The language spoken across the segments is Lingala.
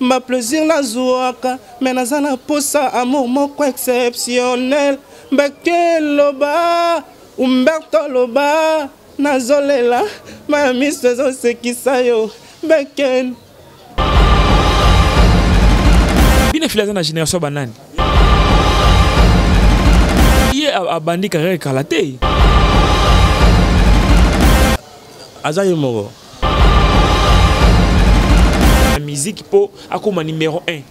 Ba plaisir nazuaka mais naza na posa amour moko exceptionnel Mbeke loba Umberto loba nazolela ma miso ezosekisa yo Mbeke Bine fila aza na generation ya banani ye abandi carrière kala te aza ye moko na musique po akoma numéro 1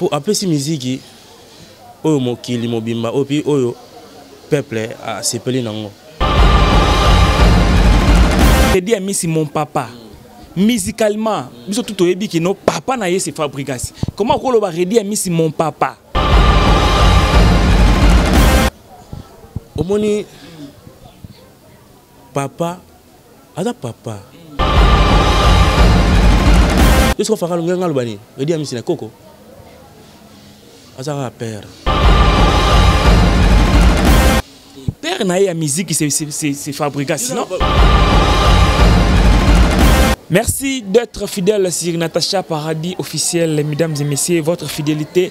po apesi miziki oyo mokili mobimba oyo mpe oyo peuple asepeli nango tedi amisi mon papa musicalement biso tu toyebi kino papa na ye se fabrigas comment okoloba redi amisi mon papa omoni papa aza papa yo soki ofaka longenga aloba nini edi amisi na koko aza kaka père père na ye ya miziki se fabrika sinon Merci d'être fidèle sur Natacha Paradis officiel, mesdames et messieurs, votre fidélité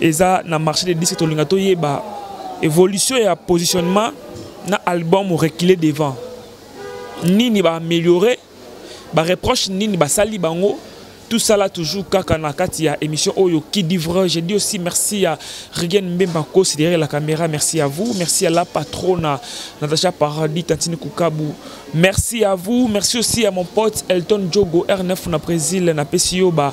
eza na marché de disque tolinga toyeba évolution ya positionnement na album reculer devant nini ba améliorer ba reproche nini basali bango tout ça là toujours kaka na kati ya émission oyo qui dit vrai je dis aussi merci à Regan Mbemba Kosi derrière la caméra merci à vous merci à la patronne Natacha Paradis Tantine Kukabu merci à vous merci aussi à mon pote Elton Djogo R9 na Brésil na Pessioba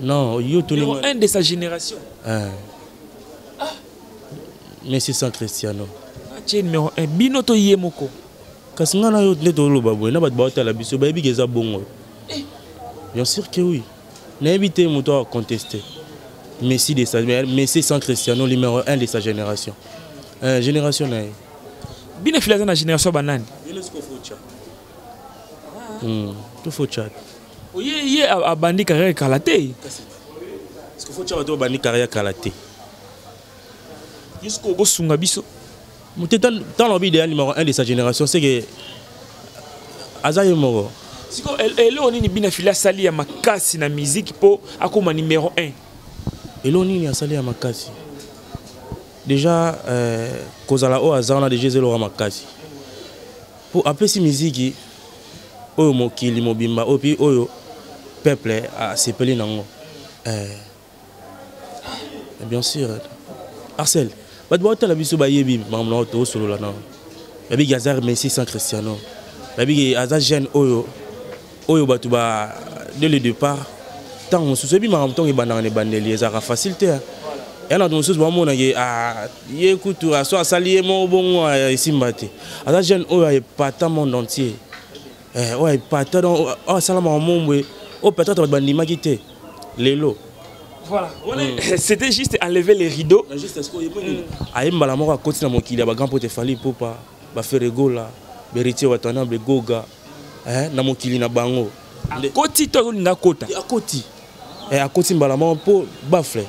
Non, yo tu Numéro 1 de sa génération. Hein. Ah. Messi sans Cristiano. Tu es numéro 1. Bino to yé moko. Kasi nga na yo nde toloba boye na bato baotala biso bayebi ke eza bongo. Eh. Bien sûr que oui. Nayebi te moto a contester. Messi de sa Messi sans Cristiano numéro 1 de sa génération. Euh, génération na ye. Bino filaza na génération banani? Bino sikofucha. Hmm, tufucha. oye ye abandi carrière kala te ceque fo tya bato babandi carrière kala te jusqu'o bosunga biso mote ntango lobi idéal numéro 1 de sa génération seke aza ye moko siko eloko nini bina fili asali ya makasi na miziki mpo akóma numéro 1 eloko nini asali ya makasi déjà euh, kozala oyo aza wana déjà ezeloko ya makasi Po apesi miziki oyo mokili mobimba oyo pi oyo peuple asepeli nango. Eh. eh bien sûr. Arcel, bato baotala biso bayebi makambo na oyo tosolola nao. Bayebi Gazar Messi sans Cristiano. Bayebi aza jeune oyo oyo bato ba dès le départ ntango mosusu ebi makambo ntango ebandaka na ebandeli ezalaka facile te ya na bato mosusu bamona ye ah, ye kutu aso asali ye moko bongo ah, esimba te aza jeune oyo aepata monde entier eh, oyo aepata donc oyo asala makambo boye oyo peut-être bato bandimaki te lelo Voilà. Mm. C'était juste enlever les rideaux. Juste ce qu'on est venu. Aïe, malamora, continue à mon kilia, grand pote Fali Popa, Baferegola, Beritier Watana, Begoga. eh, na mokili na bango akoti to azolinga akota akoti eh, akoti mbala moko mpo bafle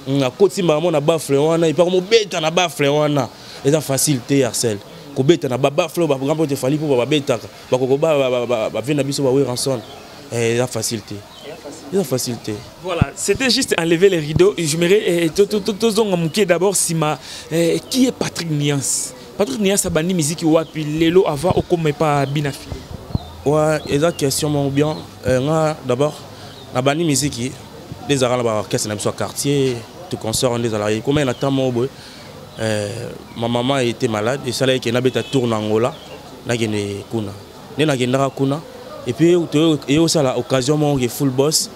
mm, akoti mbala moko na bafle wana epaka mobeta na bafle wana eza facile te yarcel kobeta na babafle oyo baprograme oyo tefali mpo bababetaka bakokoba bavie na biso baweranson eh, eza facile te eza facile te voilà c'était juste enlever les rideaux j'aimerais eh, tozonga moke d'abord nsima eh, qui est patrick niance Patrick Nias abandi miziki wapi lelo avant okoma epa bina fille ouais eza question moko bien euh, nga d'abord nabandi miziki nde ezalaka na baorchestre na biso ya quartier to concert nde ezalaka ekomaki na temps moko boye euh, ma maman était malade esalaki ke nabeta tour na angola nakende kuna nde nakendaka kuna epuis eye osala occasion moko ke full boss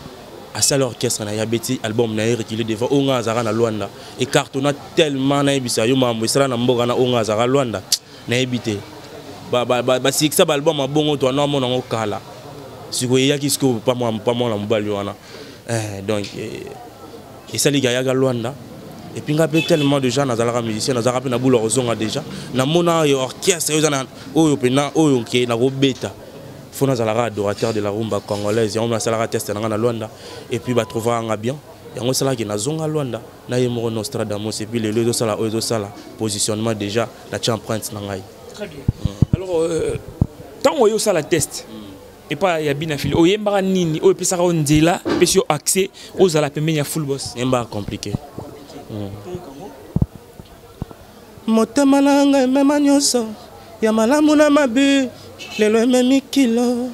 asala orchestre na ye abeti album na ye reculé devant oyo ngai azalaka na lwanda ecartona tellement nayebisa yo makambo esala na mboka na oyo ngai azalaka lwanda nayebi te basikisa baalbum abongo to wana amona yango kala sikoyo eyaki sikoyo pamwana mobali wana eh, donc eh, esaliki ayaka lwanda epuis ngai mpe tellement déjà nazalaka musicien nazalaka mpe na bula kozonga déjà namona orchestre oyo eza na oyo mpena oyo nke nakobeta fona azalaka adorateur de la rumba congolaise yango nasalaka teste na ngai na lwanda epuis batrouvaka nga bien yango esalaki nazonga lwanda na ye moko nostradamus epuis lelo ezosala oyo ezosala positionnement déjà natya empreinte na ngai ntango oyo osala teste epa ya bina fili oyembaka nini oyo epesaka yo nzela epesi yo accès ozala pembeni ya full boss yembaka compliqué mm. Motema na nga emema nyonso ya malamu na mabe lelo ememi kilo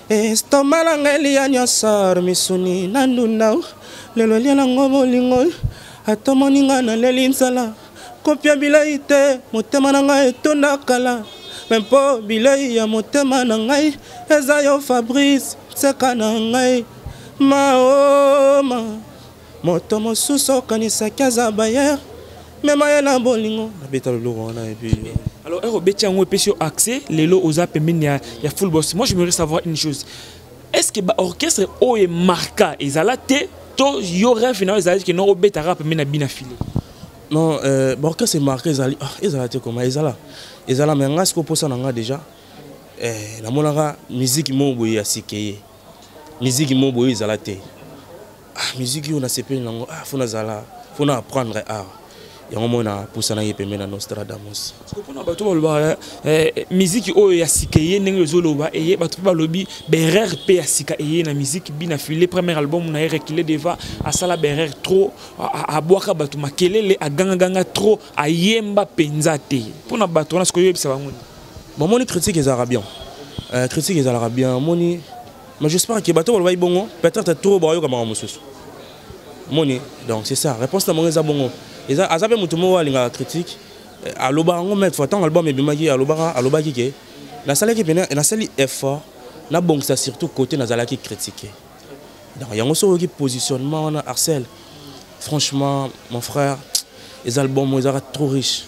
estoma na nga eliya nyonso misuni na ndunda lelo elia nango bolingo atomoni nga naleli nzala kopia bilei te motema na ngai etonda kala me mpo bilei ya motema na ngai eza yo fabrice nseka na ngai maoma oh, Moto mosusu okanisaki aza bayer mema ye na bolingo nabeta loloko wana epuis alors ero obeti yango epesi yo accès lelo oza pembeni ya, ya full boss moi je voudrais savoir une chose est ce que baorchestre oyo emarka ezala te to yo rêve na yo ezalaki ke noko obetaka pembeni na bina file non euh, baorchestre emarka ezali ah, ezala te koma ezala ezala me ngai sikoposa na ngai déjà eh, namonaka miziki moko boye ya sikeye miziki mo boye ezala te ah, miziki oyo nasepeli nango ah, fo nazala fo na apprendre art ah. yango moi napusanaki pembe na nostradamus mpona bato balobaka eh, eh, miziki oyo ya sika eye ndenge ezoloba eye bato mpe balobi berer mpe ya sika eye na miziki bina file premier album na ye rekile deva asala berer trop abwaka bato makelele agangaganga trop ayemba mpenza te mpona bato wana sikoyo oyebisa bango nini bomoni critique ezalaka bien euh, critique ezalaka bien omoni mais j'espère que bato balobaki bongo peut-être trop bayoka makambo mosusu moni donc c'est ça réponse na bango eza bongo aza mpe moto moko alingaka critique euh, alobaka yango maître fois ntango album ebimaki alobaka alobaki ke nasalaki mpe nasali effort nabongisa surtout côté nazalaki critique donc yango soki oyoki positionnement wana arcel franchement mon frère eza album ezalaka trop riche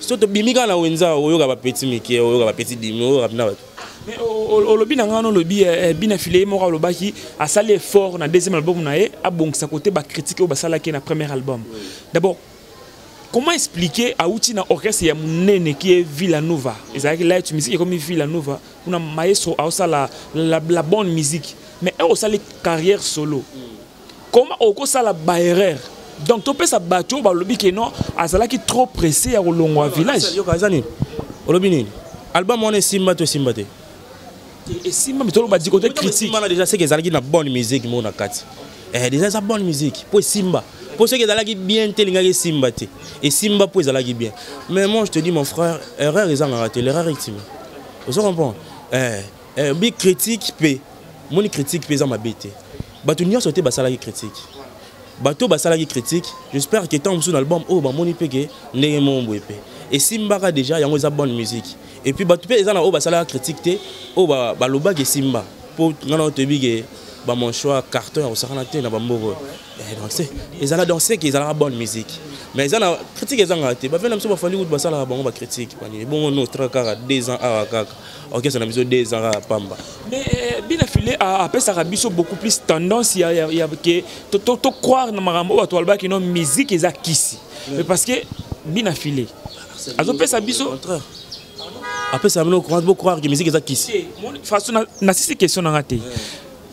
so tobimi kaka na wenza oyoka bapeti mike oyoka bapeti dimi oyoka mpena bato olobi na ngai olobi eh, eh, bina file ye moko alobaki asali effort na deuxième album na ye abongisa kote bacritique oyo basalaki na premier album d'abord comment expliquer auti na orchestre ya monene qui est villanova ezalaki light musique ekomi villanova kuna maestro aosala la, la bonne musique mais osali carrière solo mm. comment okosala ba erreur donc topesa bato oyo balobi ke non azalaki trop pressé ya kolongwa village aza nini olobi nini album wana esimba to esimba te esimba mitolo badi kote critique wana déjà seke ezalaki na bonne musique moko na kati eh, déjà eza bonne musique mpo esimba mpo soki ezalaki bien te elingaki esimba te esimba mpo ezalaki bien mais moi je te dis mon frère erreur ezangaka te l'erreur ultime ozo comprendre eh. eh, bi critique pe moni critique pe eza mabe te bato nyonso te basalaki critique bato basalaki critique j'espère que ntango mosusu na album oyo oh, bamoni mpe ke ndenge moko boye mpe esimbaka déjà yango eza bonne musique et puis bato mpe eza na oyo basalaka critique te oyo oh, balobaki esimba mpo ngai nao toyebi ke bamanchoa carton ya kosakana te na bamboko eh, ezala donc seke ezalaka bonne musique mais eza na critique ezangaka te bavena biso bafandi kutu basalaka bango bacritique ebongo no tra kaka deux ans awa kaka orchestre na biso de ezalaka pamba mais euh, bina file apesaka biso beaucoup plus tendance ya, ya, ya ke to, to, to croire na makambo oyo bato balobaki no musique eza kisi mais parce que bina file azopesa biso apesa bino bocroire ke musique eza kisi façon nasisi question nanga te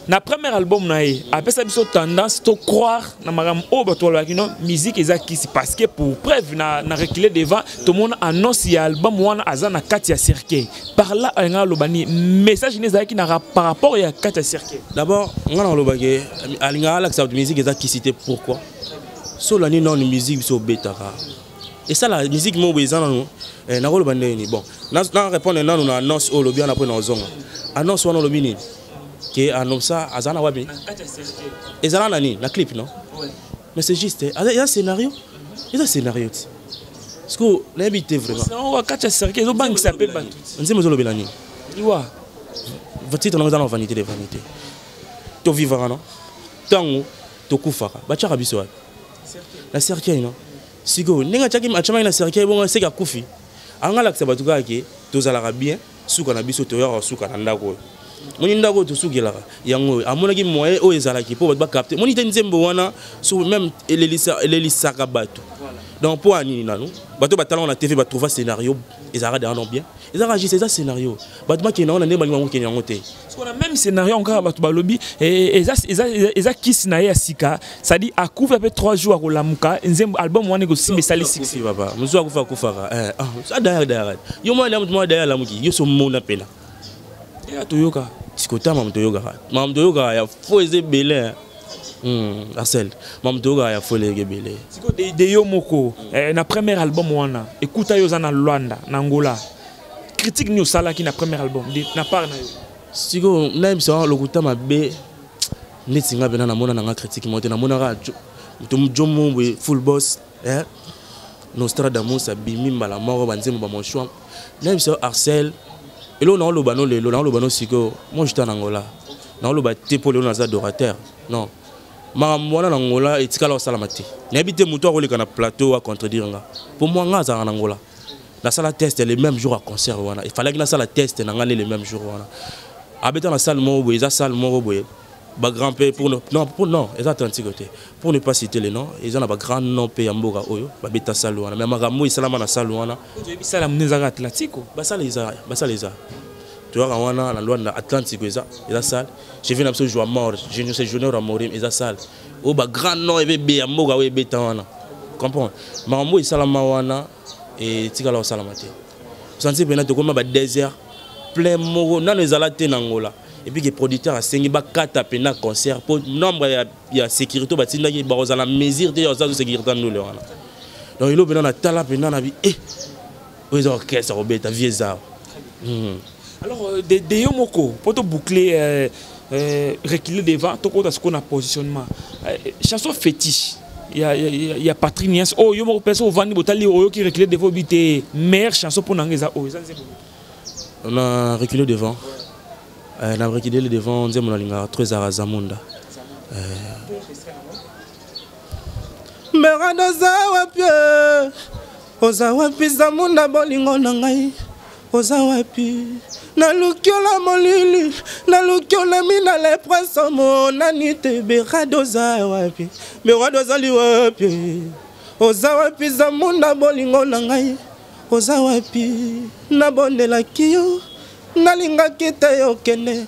na premier album na ye apesa biso tendance to croire na makambo oyo bato balobaki no musique eza kisi parce que pour preuve na, na recule devant tomona annonce ya album wana aza na kati ya cercueil par là alinga aloba ni message nini ezalaki na par rapport ya kati ya cercueil d'abord nga nalobaki alinga alakisa bato musique eza kisi te pourquoi solani nano musique biso obetaka esala musique moko eza nano eh, nakoloba ndenge nini bon na répondre nano na annonce oyo olobi wana mpo na ozonga annonce wana olobi nini ke anobsa aza na wapi ezala na nini na clip non mais c'est juste eza scénario eza scénario ti siko nayebi te vraimentkati ya cercle ezobangisa mpe bato nzembo ezolobela nini liwa titre nango eza na vanité de vanité tovivaka no ntango tokufaka batyaka biso wapi na cercueil no sikoyo ndenge atyaki atyamaki na cercueil bongo seke akufi angalakisa bato kaka ke tozalaka bien suka na biso toyaka suka na ndako oyo moni ndako oyo tosukelaka yango oyo amonaki moyen oyo ezalaki mpo bato bacapte moni te nzembo wana so meme elelisaka bato donc mpo ya nini nanu bato batalaka na tv batrouva scénario ezalaka deano bien ezalaka juste eza scénario bato bakende yango na ndenge balingi bango kende yango te sikoyo na même scénario yango kaka bato balobi eh, eh, eza kisi na ye ya sika cestadi akufi ape 3 jours akolamuka nzembo album wana ekosimba esali sipapa mosusu akufi akufaka eh, ah, dayar dayar yo mwana moto mwana dayar alamuki yo so mona mpena ya toyoka sikota mamu toyokaka mamu toyokaka ya fo eza ebele hmm, asel mamu toyokaka ya fo eleki ebele sikoyo de yo moko na premier album wana ekuta yo oza na luanda na angola critique nini osalaki na premier album na part na yo sikoyo nayebisa lokuta mabe neti nga mpena namona na nga critique moko te namonaka jomo boye full boss eh? nostradamus abimi mbala moko banzembo bamoshwa nayebisa yo arcel eloko naoloba no lelo naoloba no sikoyo moi jeta na ngola naoloba te mpo lelo naza adorateur non makambo wana na ngola etikala kosalama te nayebi te moto akoleka na plateau acontredire nga mpo mwa nga azalaka na ngola nasala test le même jour ya concert wana efalaki nasala test na ngai nde le même jour wana abeta na salle moko boye eza salle moko boye bagrand mpe pour ne, non, pour, non eza atlantique te pour ne pas citer le nom eza na bagrand nom mpe ya mboka oyo babeta salle wana mais makambo esalama na salle wana bisala mne ezaka atlantico basala eza basala eza toyaka wana na lwanda atlantico eza eza salle chevi na biso joa mort junior junior amorim eza salle oyo ba grand nom ebe be ya mboka oyo ebeta wana comprendre makambo oyo esalama wana etikala kosalama te osanti mpena tokoma ba désert plein moko nano ezala te na ngola epuis ke producteur asengi bakata mpena concert mpo nombre ya, ya sécurité oyo batindaki bakozala mesure te ya ozazo sécurité ndule wana donc elo mpena natala mpena na bi eh, oyo eza orchestre akobeta vie eza hmm. alors euh, de, de yo moko mpo toboucle euh, euh, reculer devant tokota sikoyo na positionnement euh, chanson fétiche ya, ya, ya, ya patrik nias oyo oh, yo moko mpenso ovandi botali oyoki reculer devant obi te meilleure chanson mpo na ngai eza oyo oh, eza nzembo na reculer devant euh, na reculer devant nzembo nalingaka trop ezalaka zamunda euh, merado oza wapi eh? oza wapi zamunda bolingo na ngai oza wapi naluki ola molili naluki olami na leprese omonani te berade oza wapi berade ozali wapi oza wapi zamunda bolingo na ngai oza wapi nabondelaki yo nalingaki te okende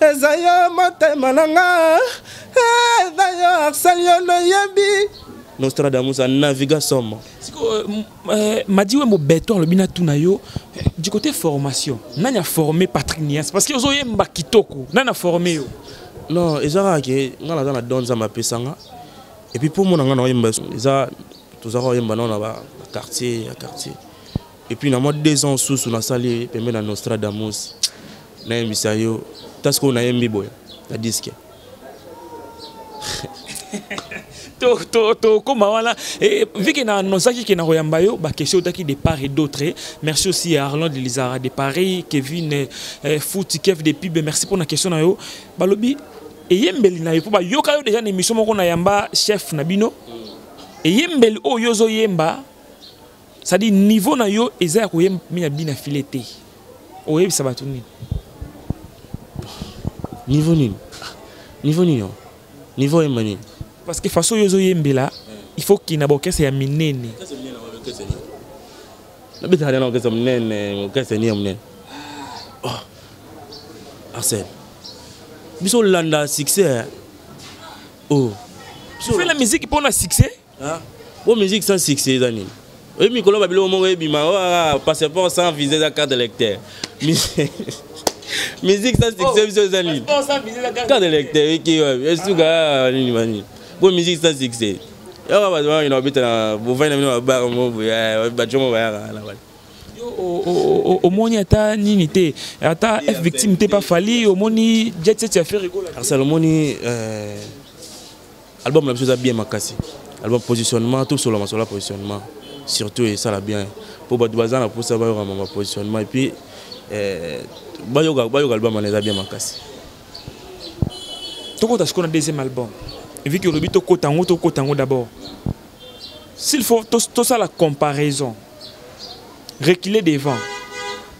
eza yo motema na nga eza yo arsel yo noyebi nostradamus anaviga somo sikoyo eh, madi wembo beton alobi natuna yo eh, du côté formation nani aforme patrick nias parce que ozoyemba kitoko nani aforme yo non eza kaka ke nga naza na don nzambe apesa nga epuis mpo omona nga na oyemba eza tozaka oyemba nao na baquartier ya quartier et puis na mwa deux ans susu nasali pembe na nostradamus nayembisa yo ta sikoyo nayembi boye na diske tokoma wana vike na annonsaki ke nakoyamba yo bakestion otaki de part et d'autre merci aussi à arland lizara de paris kevin eh, eh, futi kev de pibe merci mpona question na yo balobi eyembeli na yo mpo bayoka yo deja na émission moko na yamba chef na bino eyembeli oyo ozoyemba c'est-à-dire niveau na yo eza ya koyemba ya bina file te oyebisa bato nini niveau nini niveau nini yo niveau oyemba nini parce que façon oyo ozoyembela il faut kina baorkestre ya minene nabetaka nde na orkestre monene orkestre nini ya monene oh. arsène biso olanda succès o oh. fela miziki mpo na succès Hein? Bon musique sans succès eza nini? Oyebi mikolo ba biloko moko ebima oh, ah, ah, passeport sans visa eza carte d'électeur. Musique sans succès oh, biso eza nini? Carte d'électeur eki wapi? Esuka ah, nini mani? Bon musique sans succès. Yaka bato wana babeta na bovani na bino babaka moko boye bato moko bayaka na bana. omoni ata nini te ata f victime te pa fali omoni jet set ya ferre arsal omoni euh, Album na biso eza bien makasi. Album positionnement tout solo masola positionnement surtout et ça la bien pour bato baza na posa ba yoka mama positionnement et puis euh ba yoka ba yoka album na eza bien makasi. Toko ta sikoyo na deuxième album. Vu que Ruby to kotango to kotango d'abord. S'il faut to to ça la comparaison. reculer devant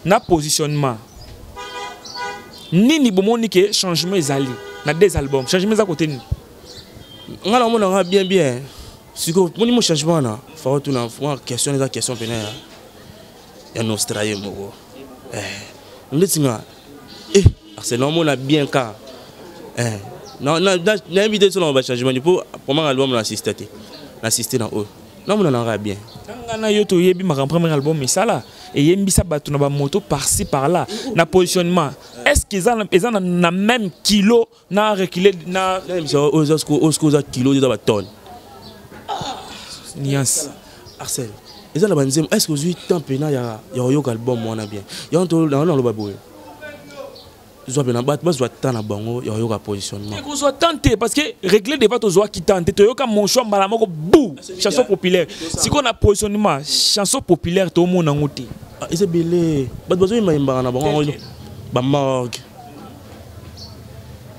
na positionnement nini bomoni ke changement ezali na deux albums changement eza kote nini nga na omona nga bien bien sikoyo moni mo changement wana fao tuna mwa question eza question pene ya ya nostraye moko eh, ndeti nga eh, ase na omona bien ka eh, nayebi te so na bachangement mpo pomaka album na assiste te na assiste na oyo namona nanga ya bien nga na yo toyebi makambo premier album esala eyembisa bato na bamoto parci par là na positionnement est ce que eza na même kilo na recule na oske oza kilo eza batone nuance arcel eza na banzembo est ce que ozwi temps mpena ya koyoka album wana bien yango naloba boye zwa pena bato bazwa temps na bango ya koyoka positionnement kozwa temps te parce que réglé débat tozwaki temps te toyoka monchoi mbala moko bou chanson populaire sikoyo na positionnement chanson populaire tomona yango te ah, eza ebele bato bazoyembayembaka na bango bamorgue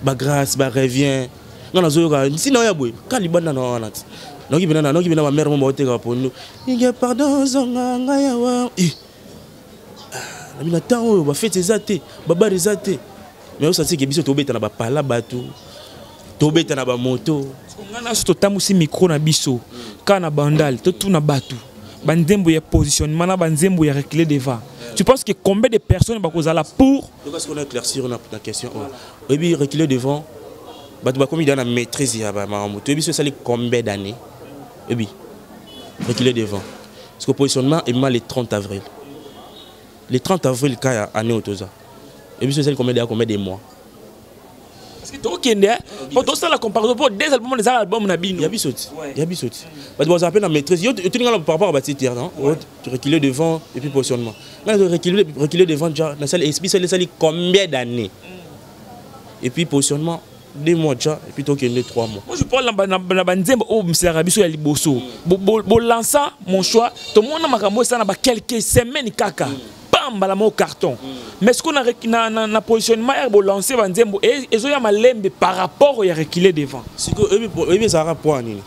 bagrace barevien nga nazoyoka ntina oyo ya boye ka libanda na wana ti naoki pena naoki pena bamere mo baoteka pondu inge pardon zonga ngai awa ah, na temps oyo bafete eza te babare eza te mais osansi ke biso tobeta na bapala bato tobeta na bamoto ngai naso totambusi mikro na biso kaka na bandal totuna bato banzembo ya positionnement na banzembo ya recule devant tu penses que combien de personnes bakozala pour parce qu'on a éclaircir na question oyo oyebi recule devant bato bakomi da na maîtrise ya bamakambo toyebi so esali combien d'année oyebi reculer devant parce que positionnement ebima le 30 avril le 30 avril ka ya année oyo toza ebiso ezali combien deya combien de mois tokende po tosala comparaison po des album eza album na bino ya biso ti ya biso ti bato bazala mpe na maîtrise yo otuni ngai par rapport ya batitre non reculer devant et puis positionnement ngai reculer devant ja nasali biso esali combien d'année mm. et puis positionnement deux mois déjà et puis tokende trois mois moi je parle na banzembo oyo misalaka biso ya liboso bolansa mon choix tomona makambo esala na baquelque semaine kaka pambala moko carton mais sikoyo na, na, na positionnement ya bolanse banzembo e, ezoya malembe par rapport ya recule devant sikoyo oyebi ezalaka poa nini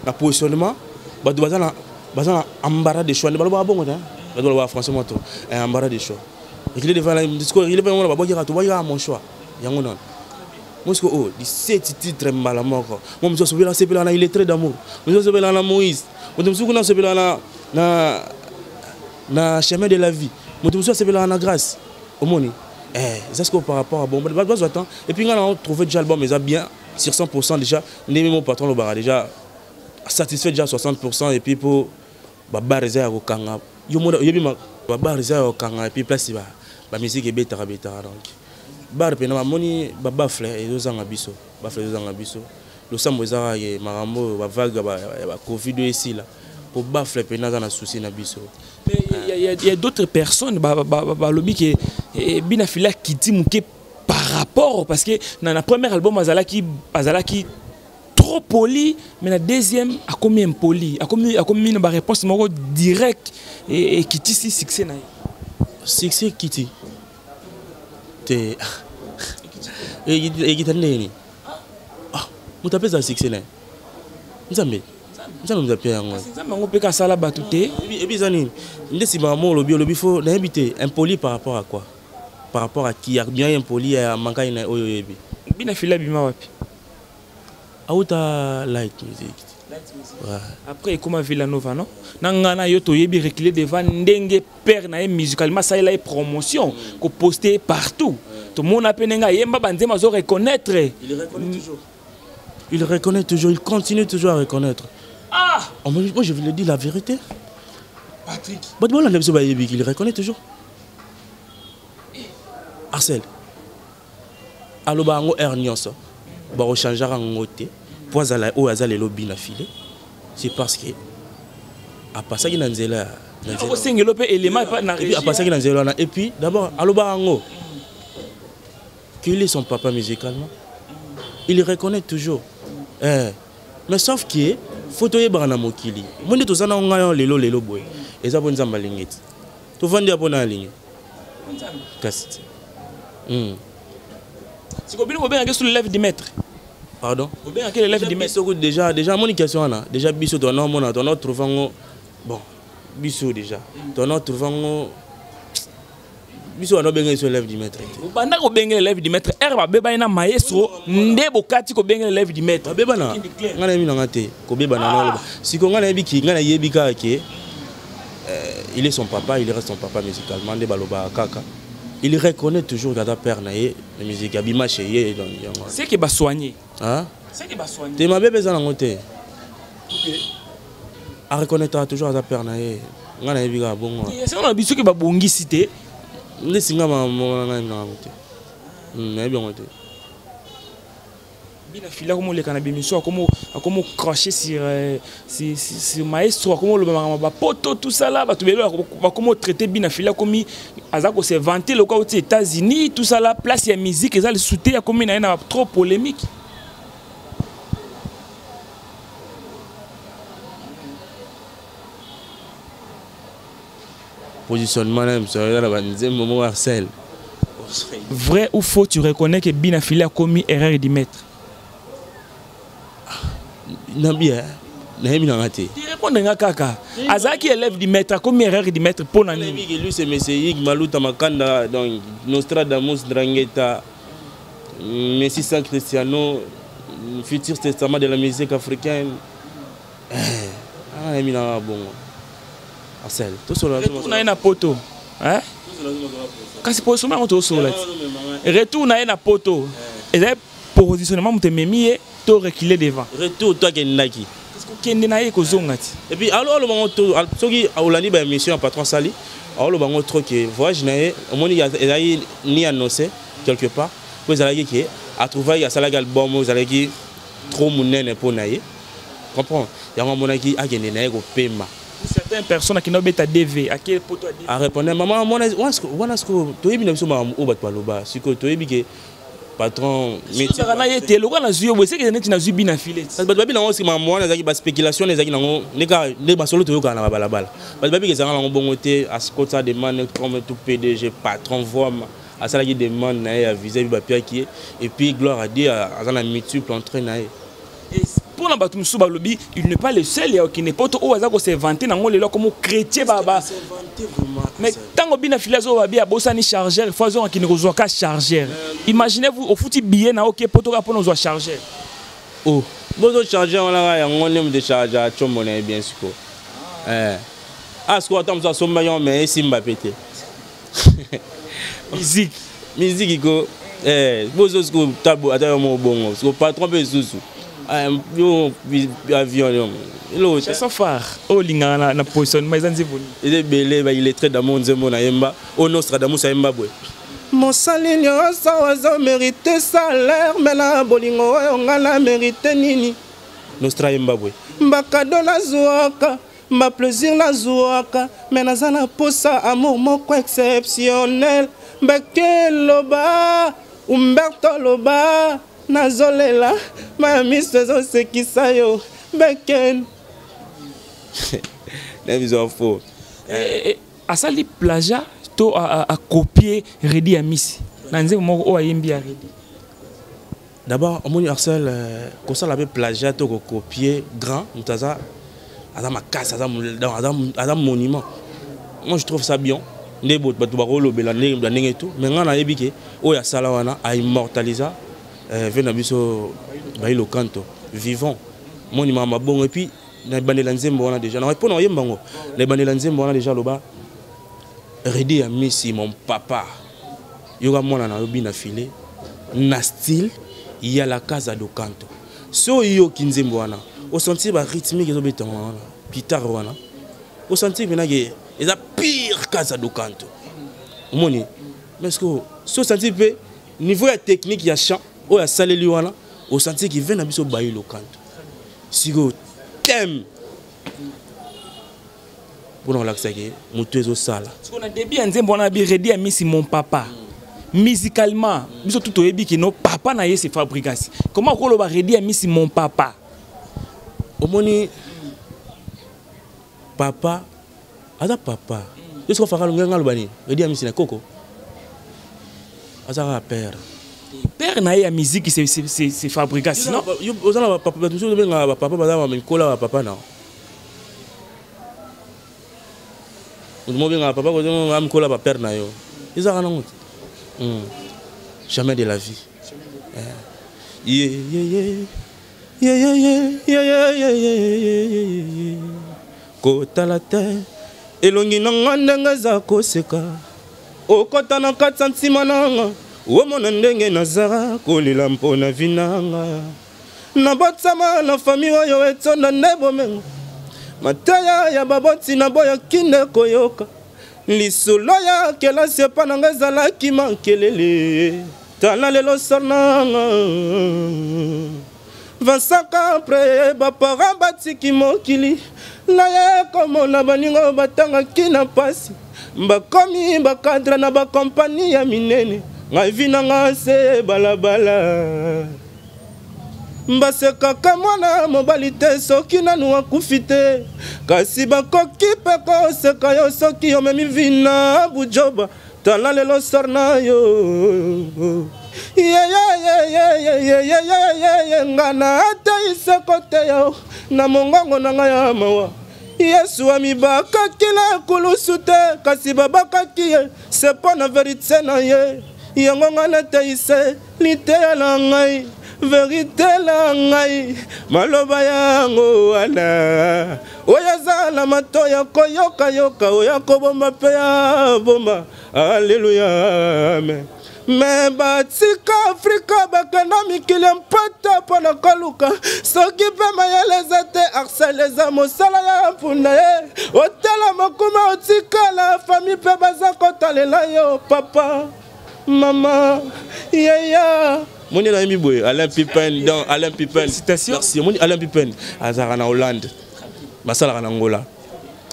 na positionnement bato baza na baza na ambara de choix nde balobaka bongo te bato balobaka français moto eh, ambara de choix recule devant sikoyo recule devant babwakaka tobwakaka mon choix yango nano mosiko oyo oh, liseti titre mbala moko mo mosusu asopela asepelaka na illettré d'amour mosusu asopelaka na moïse moto mosusu kuna asopelaka na, na, na chemin de la vie moto mosusu asepelaka na grâce omoni eh, eza sikoyo par rapport ya bongo bato bazwa temps epuis ngai na trouve déjà album eza bien sur 100 pourcent déjà ndenge mo patron alobaka déjà satisfait déjà 60 pourcent epuis mpo ba bar eza ya kokanga yo mona oyebi ma ba bar eza ya kokanga et puis place ba ba musique ebetaka betaka donc bar pena bamoni ba bafle ezozanga biso bafle ezozanga biso losambo eza kaka ye makambo oyo ba vague ya ba covid oyo esila po bafle pena aza na souci na biso il y a d'autres personnes balobi ke eh, bina fila kiti moke par rapport parce que na, na premier album azalaki azalaki trop poli mais na deuxième akomi impoli akomi akomi na baréponse moko direct ekitisi succès na ye succès ekiti te ekita ndenge nini ah, moto apesa succès na ye nzambe nzambe moto apia yango nzambe yango mpe kasala bato te ebi eza nini nde nsima mo olobi olobi fo nayebi te impoli par rapport à quoi par rapport à qui ya bien impoli ya mankani na oyo oyebi bina fila bima wapi auta light music après ekoma villanova non na ngai na yo toyebi recule devant ndenge père na ye musicalement asalela ye promotion mm. koposte ye partout mm. tomona mpe ndenge ayemba banzembo azo reconnaître il reconnaît toujours il continue toujours à reconnaître ah oh, moi je voulais dire la vérité patrick bato bolanda biso bayebi il reconnaît toujours eh. arcel alobaka yango heure nyonso bakochangeaka yango te mpo azala oyo aza lelo bi na file c'est parce que apasaki na nzela ya okosengela mpe elema apasaki na nzela wana et puis d'abord alobaka yango qu'il est son papa musicalement il reconnaît toujours eh. mais sauf que fo toyebaka na mokili moi nde toza na ngai lelo lelo boye eza mpo nzambe alingi ti tovandi apo na alingi kasi te hmm. siko bino bobengaki sur l'élève du maître pardon obengaki l'élève du maître soko déjà déjà amoni question wana déjà biso tona omona tona otrouve yango bon biso déjà tona otrouve yango biso wana obengeli so élève du maître te obanda kobengela élève du maître ere babebani na maestro nde bokati kobengela élève du maître babebana ngai nayebi nanga te kobebana naloba siko ngai nayebi ki ngai nayebi kaka ke Euh, il est son papa, il reste son papa musicalement, nde baloba kaka. Il reconnaît toujours Gada père na ye, musique abima chez ye donc yango. C'est que ba soigner. Hein? C'est que ba soigner. Te mabe beza nango te. OK. A reconnaîtra toujours Gada père na ye. Nga na yebi ka bongo. Ye c'est on a biso ke ba bongisi te. Nde singa ma mona na nga te. Hmm, na yebi yango te. Bina fila akomi oleka na bemission akomi akomi cracher sur euh, sur, sur maestro akomi oloba makambo bapoto tout ça là bato bele bakomi otraite bina fila akomi aza ko se vanter lokola oti états-unis tout ça là place ya musique eza lisusu te akomi na ye na trop polémique positionnement na biso eza na banzembo moko arsel vrai ou faux tu reconnais que bina fili akomi erreur du maître na bien nayebi nanga te répondre nga kaka azalaki élève du maître akomi erreur du maître mpo na nini lui c'est monsieur yig maluta makanda donc nostradamus drangeta messi san cristiano futur testament de la musique africaine Ah, nayebi na bongo asel tosolola retour na ye na poto kasi positionnement yango tosolola ti retour na ye na poto ezali positionnement moto ememi ye to recule devant retour to akendaki kokende na ye kozonga ti epuis aloba ngo soki olandi baémission ya patron asali aoloba ngo trop ke voyage na ye omoni ezalaki ni annonce quelque part mpo ezalaki ke atrouvaki asalaki album oyo ezalaki trop monene mpo na ye comprends yango amonaki akende na ye kopema certaines personnes akenda obeta dv ake poto arépondre ah, mama wana sikoyo toyebi na biso makambo oyo bato baloba sikoyo toyebi ke patron metaka na ye te lokola nazwi yo boye sekele neti nazwi bi na filet bato babi nango sima makambo wana ezalaki baspéculation ezalaki nango nde masolo toyokana na babalabala bato babiki ezanga nango bongo te askota demande comme tout pdg patron vraimen asalaki demande na ye ya visa ebi bapiaki ye epuis gloire à dieu aza na multiple entrain na ye mpo na bato mosusu balobi il n'est pas le seul ya okende poto oyo aza koservante nango lelo akomo chrétien baba mais ntango bina fili azoba bi abosani chargeur fo azonga kende kozwa ka chargeur imaginez vous ofuti billet na oke poto kaka mpo na ozwa chargeur o oh. bozo charge yango nanga yango nde moto charge acombo na ye bien siko eh. a ah, sikoyo ata mosu asombaki yango me esimba mpe te musique musique ko eh bozo ko tabo ata yo mo bongo ko patron pe susu ah, yo avion yo elo chanson phare o linga na na positionnement ezanzi boni ele belé ba il est très d'amour nzembo na yemba o nostra d'amour sa yemba boye mosali nyonso azo merite salaire me na bolingo oyo ngai na merite nini nostra yemba boye mbakado nazwaka Ma plaisir na zuaka mais naza na posa amour moko exceptionnel mbeke loba umberto loba nazolela maya miso ezosekisa yo mbeken na biso fo eh, eh, eh, asali plaja to akopie redi ya misi na nzembo moko oyo ayembi ya redi D'abord, omoni Axel euh, kosala pe plagiat to ko copier grand moto aza aza makasi aza aza monument. Moi je trouve ça bien. Nde bato bakolobela ndenge bla ndenge tout mais ngai nayebi ke oyo asala wana a immortalisa euh, ve na biso bailo kanto vivant monument ya mabongo et puis na ebandela nzembo wana déjà na mpo na oyemba yango na ebandela nzembo wana déjà aloba redi ya misi mon papa yoka mwana na yo bina file na style ya la casa do canto so oyoki nzembo wana osentir barythmique ezobetama wana guitare wana osentir mpenake eza pire casa do canto omoni mais sikoyo so osentir mpe niveau ya technique ya chant oyo asaleli wana osentir kive na biso bayi lokanto sikoyo teme mpo na kolakisa ke motu ezosala siko na debut ya nzembo wana bi redi ya misi mon papa musicalement biso tu toyebi kino papa na ye se fabrigasi comment okoloba redi ya misi mon papa omoni papa aza papa yo soki ofaka longenga aloba nini redi ya misi na koko aza kaka père père na ye ya miziki se fabrigasi non oza na bapapa bato mosusu obengaka bapapa baza bamikola bapapa na moto mobengaka papa kozenga mikola bapere na yo ezalaka nango te hmm. jamais de la vie kotala te elongi na nga ndenge eza koseka okota na kati ya ntima na nga omona ndenge nazala kolela mpo na vi na nga nabotama na fami oyo etonda nde bomengo mateya ya baboti na boya kinde koyoka lisolo ya kelasi epa na ngai ezalaki mankelele tala lelo sananga vasaka pre baparent batiki mokili naye komona baninga batangaki na mpasi bakomi bakadre na bakompani ya minene ngai vi na ngai se balabala basekaka mwana mobali te soki nanu akufi te kasi bakoki mpe koseka yo soki omemi vina bujoba tala lelo sar na yo yeyeyeyeyeyeyeye nga na ateyi seko te yo na mongongo na ngai ya mawa yesu amibakaki na kulusu te kasi babakaki ye se mpo na verite na ye yango nga nateyise liteya na ngai verite na ngai maloba yango wana oyo aza na mato ya koyokayoka oyo akobomba mpe ya bomba aleluya amen me batika afrika bakenda mikili ya mpata mpo na koluka soki mpe mayele eza te arsel eza mosala ya mpunda ye otala mokuma otikala fami mpe baza kotalela yo papa Maman, yeah, yeah. moni na yembi boye alain pipen dans alain pipen merci moni alain pipen azalaka na hollande basalaka na ngola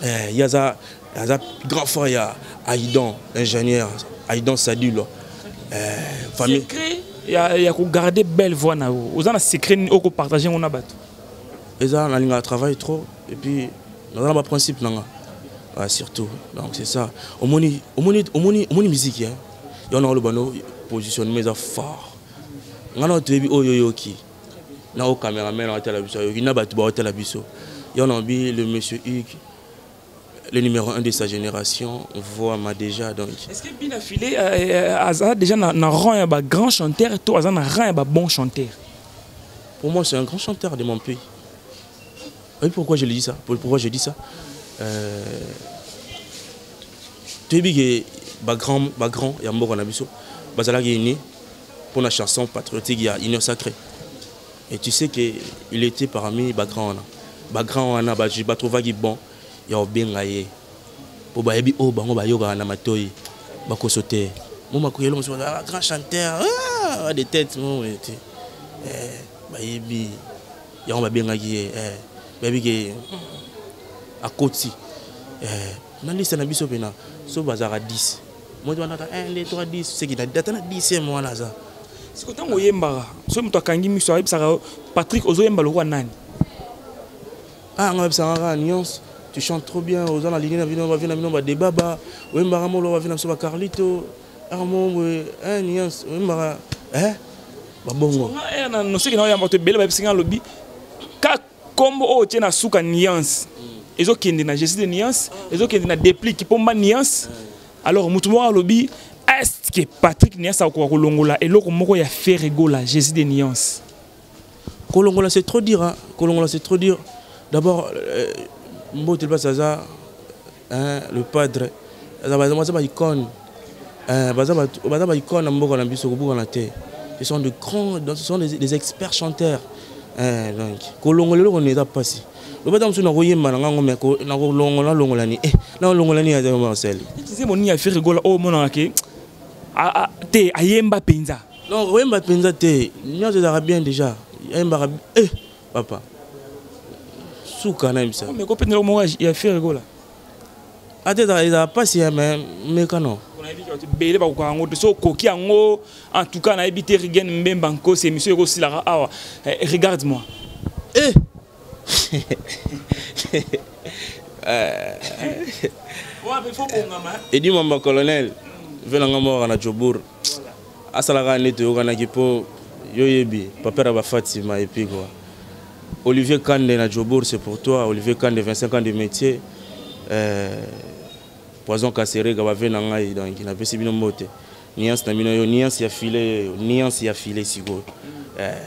eh, ye aza aza grand frère ya aidan ingénieur aidan sadulo eh, famille ya, ya kogarde belle voix na yo oza na secret nini okopartage yango na bato eza nalingaka travail trop et puis naza na ba principe na nga ah, surtout donc c'est ça omoni omoni omoni omoni musique hein yo na oloba no positionnement eza fort nga na toyebi oyo yoki na o cameraman na otala biso yoki na bato ba otala biso yo na bi le monsieur Hugues le numéro 1 de sa génération voit ma déjà donc est-ce que Bina Filé euh, euh, aza déjà na, na rang ya ba grand chanteur to aza na rang ya ba bon chanteur pour moi c'est un grand chanteur de mon pays Oui, pourquoi je le dis ça Pourquoi je dis ça euh, toyebi ke bagrand bagrand ya mboka na biso bazalaki uni mpo na chanson patriotique ya union sacrée et tu sais que il était parmi bagrand wana bagrand wana batrouvaki bon ya kobenga ye mpo bayebi oyo oh, bango bayokaka na matoi bakoso te mo makoyelo mosusu ah, grand chanteur ah, de tête mo te eh, bayebi yango babengaki ye eh, bayebi ke mm. akoti eh, na liste na biso mpena so bazalaka 10 moto wanaka 1 2 3 10 seki na ata na 10 mwana aza siko ntango oyembaka soki moto akangi miso ayebisaka patrick ozoyemba lokola nani ah nga oyebisaka kaka nyonso tu chantes trop bien oza na ligne na bino bavie na bino badebaba oyembaka molo bavie na biso bacarlito Armand boye eh nuance oyembaka eh babongo. Nga eh na noseki na oyamba to bele ba bisinga lobi ka kombo o oh, tie na suka nuance. Mm. Ezo kende na Jésus de nuance, ah. ezo kende na déplique pomba nuance. Ah. Alors mutu moko alobi est-ce que Patrick Niassa akoka kolongola eloko moko ya Ferregola Jésus de nuance. kolongola c'est trop dur hein. kolongola c'est trop dur d'abord euh, mbote mpasi aza hein, le padre aza baza baicone euh, baza baicone na mboka na biso kobukana te ce sont de grands ce sont des, des experts chanteurs euh, donc kolongola eloko nini eza mpasi lobata mosusu nakoyemba na ngango me nakolongola longolani e eh, nalongolani ya marcel eza monini ya ferigola oyo omonaka ke te ayemba mpenza Non, koyemba mpenza te. Nyonso ezalaka bien déjà. Ayembaka eh papa. Suka na yebisa. Mais ko pendela moko ya faire gola. Ate ezalaka ezalaka pasi ya mais meka non. bele bakokaka yango te so okoki yango en tout cas nayebi te rigen mbemba nkosi émission ekosilaka awa eh, regarde moi eh. edi mamba colonel ve na ngambo waka na jobour asalaka nde toyokanaki mpo yo yebi paper ya bafatima epi kua olivier kande na jobour c'est pour toi olivier kande 25 ans de métier euh, poison kaserega bave na ngai donc napesi bino mbote niance na bino yo niance ya file yo niance ya file sikoyo euh,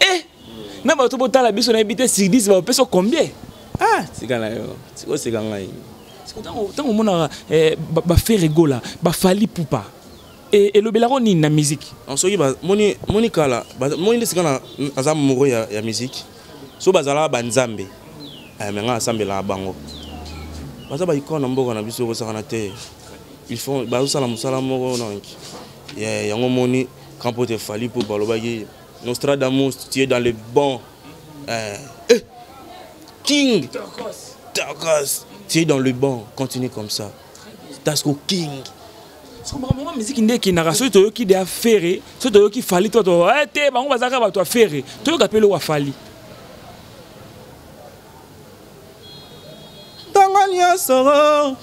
eh na bato botala biso nayebi te sur 10 bapesa combien ah tika na yo oseka ngai ntango omonaka eh, bafere gola bafali pupa e, elobelako nini na miziki soki moni kala moni nde sika aza moro ya miziki so bazalaka banzambe eh, me ngai asambelaka bango baza baikona mboka na biso ekosakana te bazosala mosala moko nonki yeah, yango omoni grand pote efali mpo balobaki nostradamus tu es dans le bon eh, eh, king tokos tu es dans le bon continue comme ça tasco king makambo yango miziki nde ekendaka soki toyoki de afere soki toyoki fali to eh, te bango bazalaka bato afere toyoka mpe eloko afali ntango nyonso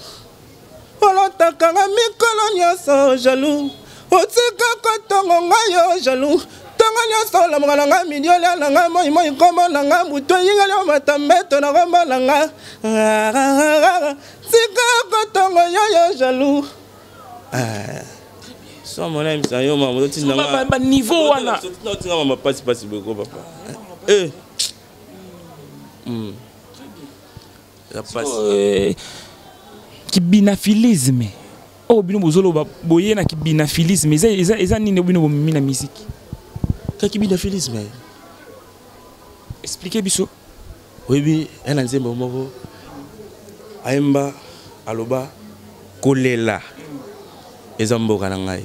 olotaka nga mikolo nyonso jalou otika kotongo nga yo jalou ntongo nyonso olamuka na nga midi olia na nga moi moi nkombo na nga butu eyingeli omata mbeto na nkombo na nga tika kotongo yo yo jalou ah. so mona yebisa yo mama ozotinda nga baniveau wana otinda mama pasi pasi boyeko papa eh. hmm. Euh, kibinafilisme oyo oh, bino bozoloba boye na kibinafilisme eza nini bino bomemi na miziki ka kibinafilisme eh. explike biso oyebi ya na nzembo moko ayemba aloba kolela eza mboka na ngai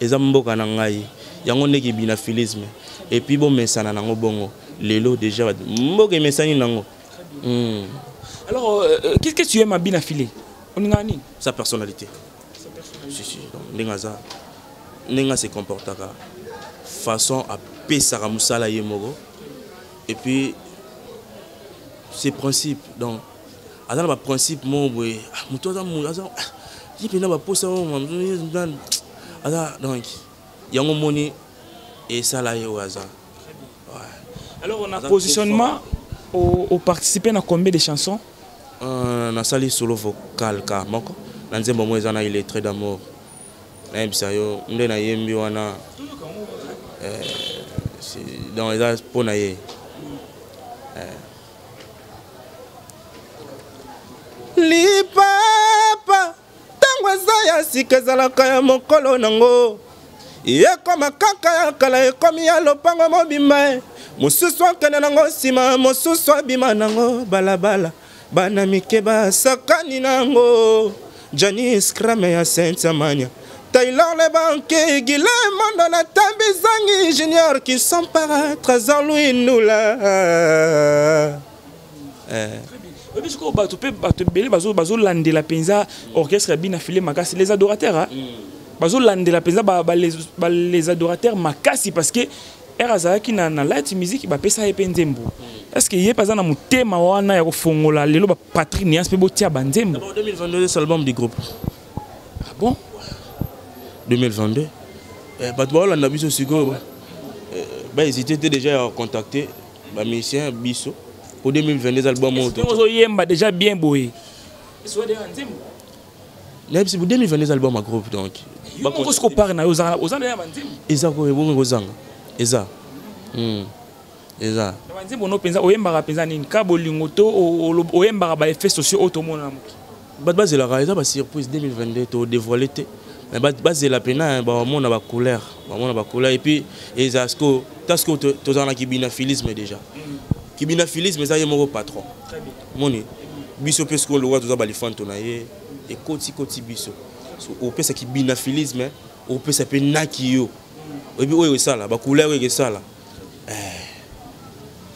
Eza mboka na ngai. Yango nde ki binafilisme. Et puis bo mesana nango bongo. Lelo deja mboka emesani nango. Hmm. Alors, euh, euh qu'est-ce que tu aimes à Binafile Oninga nini Sa personnalité. Sa personnalité. Si, si. Ndenge aza. Ndenge se comportaka. Façon à pesaka musala ye moko. Et puis, ses principes. Donc, aza na baprincipe moko boye ah, moto aza aza ah, ye mpenza baposa aza donc yango moni esala ye oyo aza alors na positionnement oparticipe na combien de chansons euh, nasali solo vocal ka moko na nzembo moko eza na illettré d'amour nayebisa yo nde nayembi wana euh, donc eza mpo na ye euh, lipapa ntango eza ya sika ezalaka ya mokolo nango ekoma kaka ya kala ekomi ya lopango mobimba e mosusu akende nango nsima mosusu abima nango balabala bana mike basakani nango Janice Crame ya Saint Amania Taylor le banquier, Guilhem Mandona, Tambi Zangi, Junior qui sont paraître, Zanlouis Noula. Eh. oyebi sikoyo bato mpe bato ebele bazolandela mpenza orchestre ya bina file makasi les adorateurs hein? mm. bazolandela mpenza ba, ba, les, ba, les adorateurs makasi parce que ere azalaki na, na light musique bapesa ye mpe nzembo mm. est ce que ye mpe aza na motema wana ya kofongola lelo Patrick Nias pe botia ba nzembo. 2022 c'est album du groupe. Ah bon? 2022. Eh, bato baolanda biso sikoyo eh, bahésite te déjà ya contacte bamusicien biso po 2022 eza album oyotozoyemba déjà bien boye nayebisi bo 2022 eza album ya groupe donc okosi kopare na yo oza na ya banzembo eza koye bongo ekozanga eza hmm. eza banzembo no mpenza oyembaka mpenza nini ka bolingo to oyembaka baeffet sociaux oyo tomona na moki bato bazelaka eza basurprise 2022 todevoile te mais bazela mpena bamona bacouleur bamona bacouleur epuis eza siko ta siko tozala na kibinafilisme déjà mm. kibinafilisme eza ye moko patron moni biso mpe sikoyo lokola toza balifanto na ye ekotikoti biso opesa kibinafilisme opesa mpe naki yo mm. oyebi oyo esala bacouleur oyo ekesala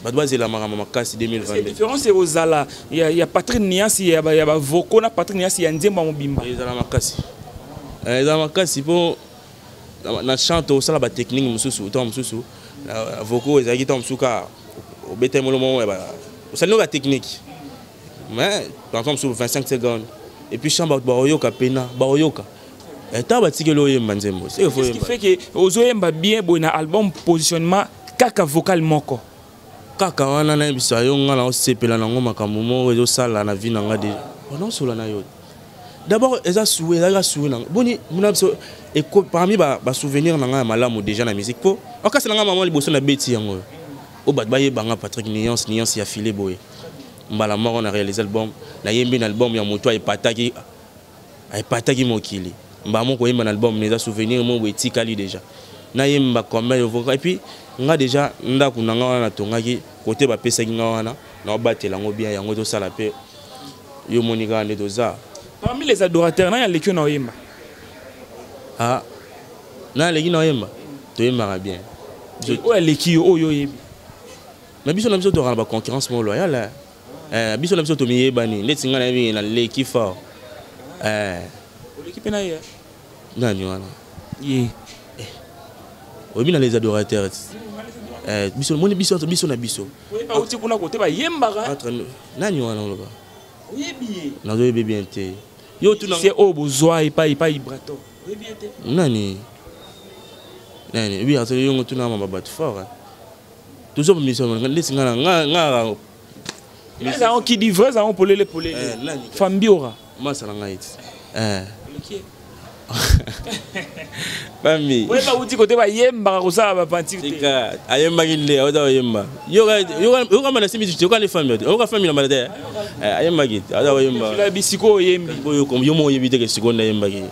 bato bazela makambo makasi 2022 différence ekozala ya, ya patrick niasi ya, ya bavoko na patrick niasi ya nzembo ya mobimba ezala makasi eh, ezala makasi mpo na chante osala batechnike mosusu ntango mosusu voko ezalaki ntango mosusu kaka obetaki molo moko osali noka technique mais ntango mosusu 25 secondes epuis chambre baoyoka mpena baoyoka Eh, ntango batikeli oyemba nzembo feke ozoyemba bien boye na album positionnement kaka vocal moko kaka wana nayebisa yo ngai naosepela nango makambo moko ezosala na vie na ngai deja onaosola na yo d'abord eza sue ezali ka sue nango boni mona biso parmi basouvenir na ngai ya malamu deja na musique mpo okasi na ngai mama liboso na beti yango oyo oh, bato bayeba ngai patrick nuance nuance ya file boye mbala moko na réalise album nayembi na album ya moto ayepataki epataki mokili mbala moko koyemba na album eza souvenir moko boye etikali deja nayemba combien yovoka epuis nga deja ndako na nga wana natongaki kote bapesaki nga wana naobatela yango bien yango tozosala mpe yo omoni kaka nde toza parmi les adorateurs nani aleki yo na oyemba ah, nani aleki na oyemba toyembaka bien oyo aleki yo oyo oyebi na biso na biso tokaka na baconcurrence moko loyale eh, biso na biso tomiyebani ndeti ngai nayebi na leki fort eh. oleki mpe na ye nani wana ye eh. oyebi na les adorateurs eh, biso moni biso biso na biso auti kuna kote bayembaka nani wana oloba nazoyebi bien te yo tunase oyo bozwa epai epai ibrato nani nani ebi azali yongo tunama babato fort tozo ba mission nga ndesi nga nga nga eza on qui dit vrai zango polele polele eh, fambiora masa na ngai eh bami oyeba uti kote bayembaka kosala bapantire te ayembaki nde aoza koyemba yoka mana simisi te yokani fami te oyoka fami na mana te eh, ayembaki aza koyemba bisiko oyembi yo mo oyebi te ke sikoyo nde ayembaki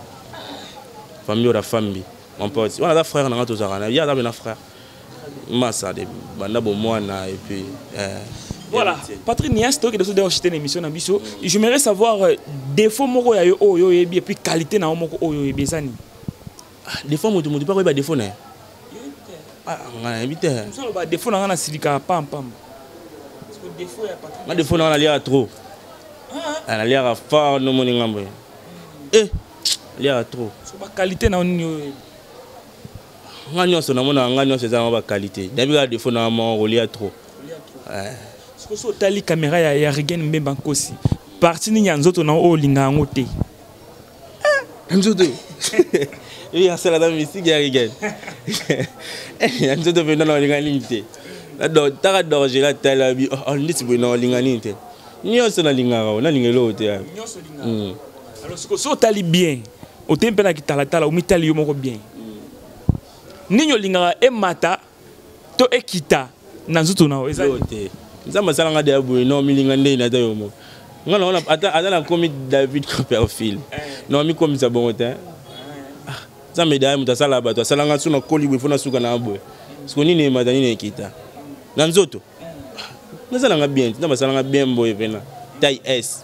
fami ora fambi mon pote wana aza frère na nga tozalaka na ye aza mpe na frère masa de banda bomwana et puis euh, voilà patrick nias tokende so deo chite na émission na biso j'aimerais savoir euh, défaut moko ya yo oyo oyebi et puis qualité na yo moko oyo oyebi eza nini ah, défaut moto moto mpe akoyeba défaut na ye ah, nga nayebi te soloba défaut na nga nasilikaka pampamba nga défaut na nga naliaka trop ah, naliaka fort nomoni ngambo ye eh. aliaka trop so ba qualité na nini oyo nga nyonso namona nga nyonso eza na ba qualité nayebi kaka défaut na moko kolia trop sikoyo so otali kamera ya, ya regen mbemba nkosi parti nini ya nzoto na oyo olinga yango te eh, nzoto eyi asala na misiki ya regen ya nzoto mpenza na olinga nini te taka dorgela tala bi oh, oh, ndeti boye na olinga nini te nyonso nalingaka nalinga eloko te alors sikoyo so otali bien otei mpe na kitalatala omitali yo moko bien nini olingaka emata to ekita na nzoto na yo eza te nzambe asala nga deya boye no milinga ndei na ta yo moko nga naona ata nakomi david copperfield eh. no amikomisa bongo te eh. ah, nzambe deya moto asala bato asala nga so nakoli boye fo nasuka na boye siko nini emata nini ekita na nzoto eh. ah, naza na nga bien te nzambe asala nga bien boye mpena tai s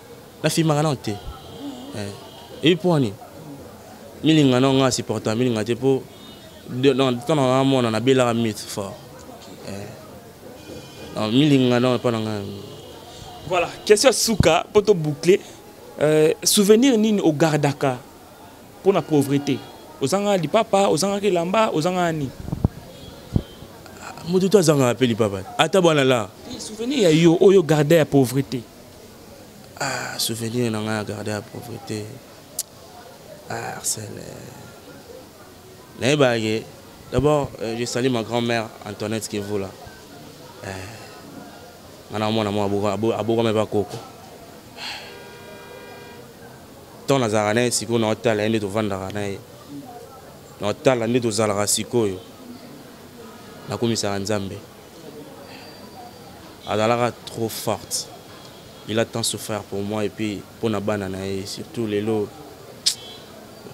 Na filmaka nao te. Eh. Et pour ani milinga nao nga supporta milinga te po dans temps na mona na belaka mythe fort. Eh. Non milinga nao pa na nga. Voilà, question suka po to boucler. Euh, souvenir nini au gardaka pour la pauvreté ozanga lipapa ozanga kelamba ozanga ani moto to azanga mpe lipapa ata bwana la souvenir ya yo oyo garde ya pauvreté ah souvenir na ngai ya garde ya pauvrete ah arsène nayebaka ke d'abord euh, je sali ma grand mère antoinette kevula eh, nga na mwana mwa abokama epa koko ntango nazalaka na ye sikoyo naotala ye nde tovandaka na ye naotala nde tozalaka sikoyo nakomisaka nzambe azalaka trop forte il a tant souffrir pour moi et puis mpo na bana na ye surtout lelo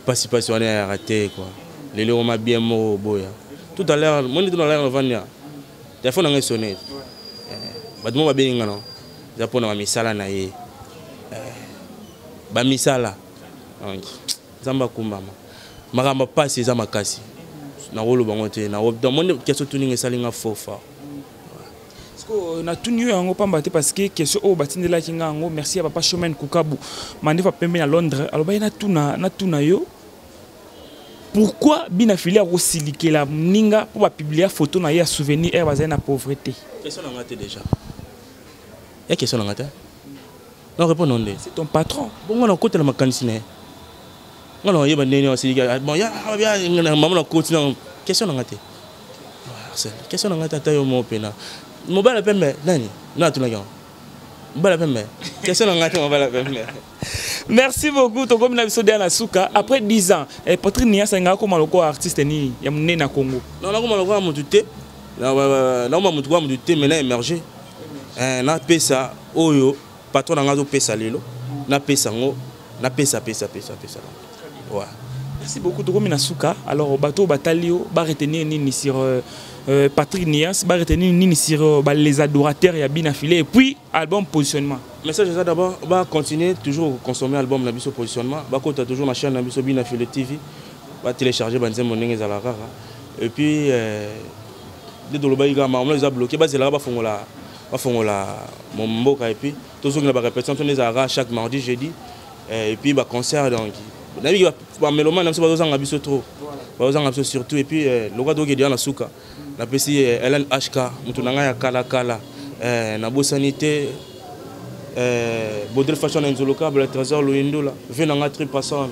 pasi pasi wana yayaka te quoi lelo oma bien moko oboya tout à l'heure moni tout à l'heure novandi ya telefone nanga esone eh, bato moko babengi nga no eza mpo na bamisala na ye eh, bamisala donc nzambe akumbama makambo pasi eza makasi nakoloba ngo te namoni keso tuninga esali nga faux fort sikoyo natuni yo yango pamba te parce que question oyo batindelaki nga yango merci ya papa chemin kukabu mandefa pembe na londres alobaki natuna natuna yo pourquoi bina fili akosilikela moninga mpo bapublia foto na ye ya souvenir ere bazali na pauvreté question na nga te déjà ya question na nga te na répondre nde c'est ton patron bongo na kotela makanisi na ye nga na yeba ndenge asiliki ah, bon ya ah, ya na mamu na koti na question na nga te question na nga te ata yo mo pena mobala pembe nani na atunaki yango mobala pembe question na nga te mobala pembe merci beaucoup tokomi na biso deya na suka après 10 ans eh, patrick niasa engaka koma lokola artiste nini ya monene na congo non nakoma lokola motu te nakoma motu kwa motu te mais na émerger eh, napesa oyo patron na ngai azopesa lelo napesa yango napesa pesa pesa pesa ouais. merci beaucoup tokomi na suka alors bato oyo batali yo baretenir nini sur euh, euh, patrick nias baretenir nini sur euh, ba, les adorateurs ya bina filet et puis album positionnement message eza d'abord bacontinue toujours consommer album na biso positionnement bakota toujours na chaîne na biso bina filet tv batelecharge banzembo ndenge ezalaka kaka et puis euh, nde tolobaki kaka makambo eza bloke bazelaka bafongola bafongola mboka epuis tozongela barepétition to nde ezalaka chaque mardi jeudi eh, epuis baconcert donc nayebi bamelomane na biso bazozanga biso trop bazozanga biso surtout epuis eh, lokola tokoki deja na suka napesi eh, helen hk moto na ngai ya kalakala nabosani te bodel fashion na nzolokabla trésor loyindola ve na ngai tri passone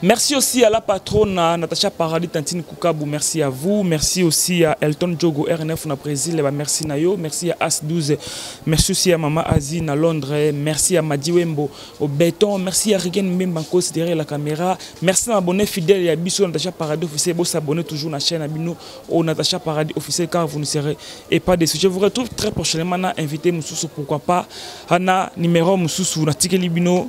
Merci aussi à la patronne Natacha Paradis Tantine Kukabu, merci à vous. Merci aussi à Elton Djogo RNF na Brésil, eh ben, merci Nayo, merci à As12, merci aussi à Mama Asie na Londres, eh, merci à Madiwembo au béton, merci à Rigen Mbemba Kos derrière la caméra, merci à abonné fidèle à Bissou Natacha Paradis officiel, vous s'abonnez toujours à la chaîne Abino au Natacha Paradis officiel car vous ne serez et pas déçus. Je vous retrouve très prochainement na invité Moussous pourquoi pas, Hana numéro Moussous na Tikeli Bino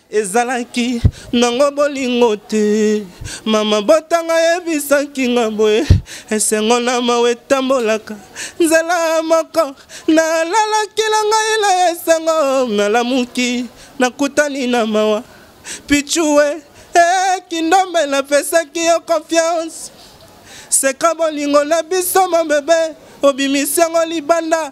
ezalaki nango bolingo te mama botanga yebisaki nga boye esengo na mawa etambolaka nzela moko nalalaki na ngai na esengo nalamuki nakutani na mawa pichue ekindombe eh, napesaki yo confiance seka bolingo na biso mobebe obimisi yango libanda